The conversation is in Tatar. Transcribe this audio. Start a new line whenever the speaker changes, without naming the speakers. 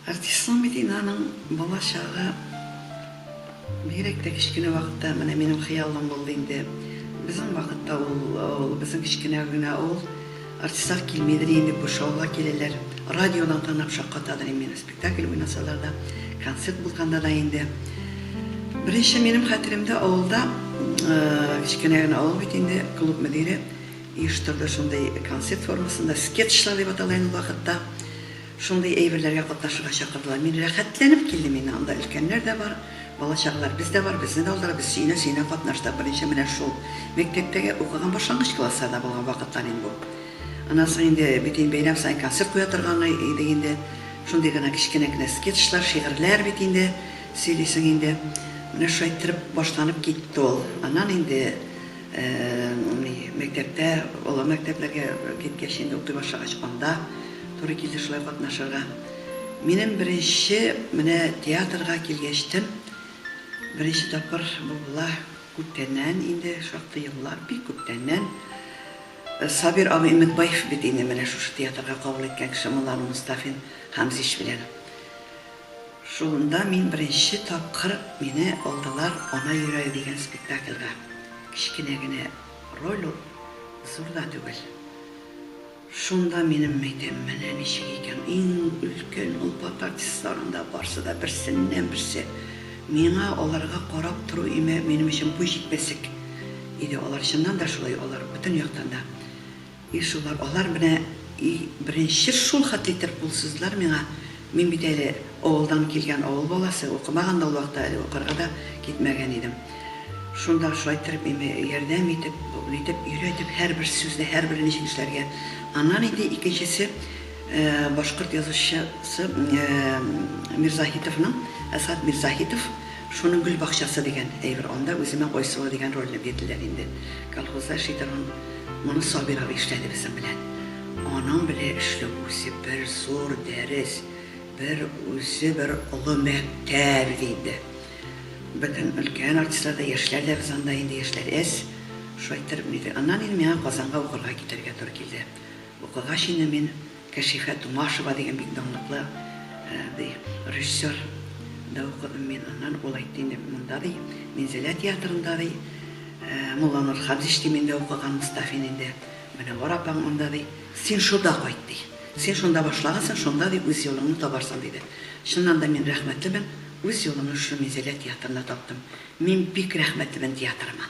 Артистның бит инде аның балачагы бигрәк тә кечкенә вакытта менә минем хыялым булды инде. Безнең вакытта ул авыл, безнең кечкенә генә авыл. Артистлар килмидер инде, күрше авылга киләләр. Радиодан тыңлап шаккатадыр инде мине. Спектакль уйнасалар да, концерт булганда да инде. Беренче минем хәтеремдә авылда, кечкенә генә авыл бит инде, клуб мөдире, оештырды, шундый концерт формасында, скетчлар дип атала инде ул вакытта, шундый әйберләргә катнашырга чакырдылар. Мин рәхәтләнеп килдем инде, анда өлкәннәр дә бар, бала-чагалар без дә бар, безне дә алдылар, без сөенә-сөенә катнаштык. Беренче менә шул мәктәптәге укыган башлангыч классларда булган вакытлар инде бу. Аннан соң инде бит инде бәйрәм саен концерт куя торган идек инде, шундый гына кечкенә генә скетчлар, шигырьләр бит инде, сөйлисең инде. Менә шулай иттереп башланып китте ул. Аннан инде. Мәктәптә, олы мәктәпләргә киткәч, инде укый башлагач, анда туры килде шулай катнашырга. Минем беренче менә театрга килгәч тем, беренче тапкыр бу була күптәннән, инде шактый еллар, бик күптәннән. Сабир абый Өметбаев бит инде менә шушы театрга кабул иткән кеше, Муллану Мостафин Хамзич белән. Шунда мин беренче тапкыр мине алдылар Ана йөрәге дигән спектакльгә. Кечкенә генә роль ул, зур да түгел. Шунда минем мәйтәм, менә ничек икән, иң өлкән олпат артистлар анда, барсы да берсеннән-берсе. Миңа аларга карап тору имә минем өчен буй җитмәслек иде, алар чыннан да шулай, алар бөтен яктан да. И шулар, алар менә и беренче шул хәтле итеп кул суздылар миңа, мин бит әле авылдан килгән авыл баласы, укымаган да ул вакытта әле, укырга да китмәгән идем. Шунда шулай иттереп миңа ярдәм итеп, нитеп, өйрәтеп, һәрбер сүзне, һәрбер ничек эшләргә. Аннан инде икенчесе, башкорт язучысы Мирзаһитовның, Әсгать Мирзаһитов. Шуның гөл бакчасы дигән әйбер, анда үземә Айсылу дигән рольне бирделәр инде. Колхозда эшлидер ул. Моны Сабир абый эшләде безнең белән. Аның белән эшләү үзе бер зур дәрес, бер үзе бер олы мәктәп иде инде. Бөтен өлкән артистлар да, яшьләр дә, без анда инде яшьләр әз, шулай торып инде. Аннан инде миңа Казанга укырга китәргә туры килде. Укыгач инде мин. Кәшифә Тумашева дигән бик данлыклы режиссер да укыдым мин. Аннан ул әйтте инде, монда ди, Минзәлә театрында ди, Мулланур Хадич ди, мин дә укыган Мостафин инде. Менәвәр апаң монда ди. Син шунда кайт ди. Син шунда башлагансың, шунда ди үз юлыңны табарсың, диде. Чыннан да мин рәхмәтлемен, үз юлымны шушы Минзәлә театрында таптым. Мин бик рәхмәтлемен театрыма.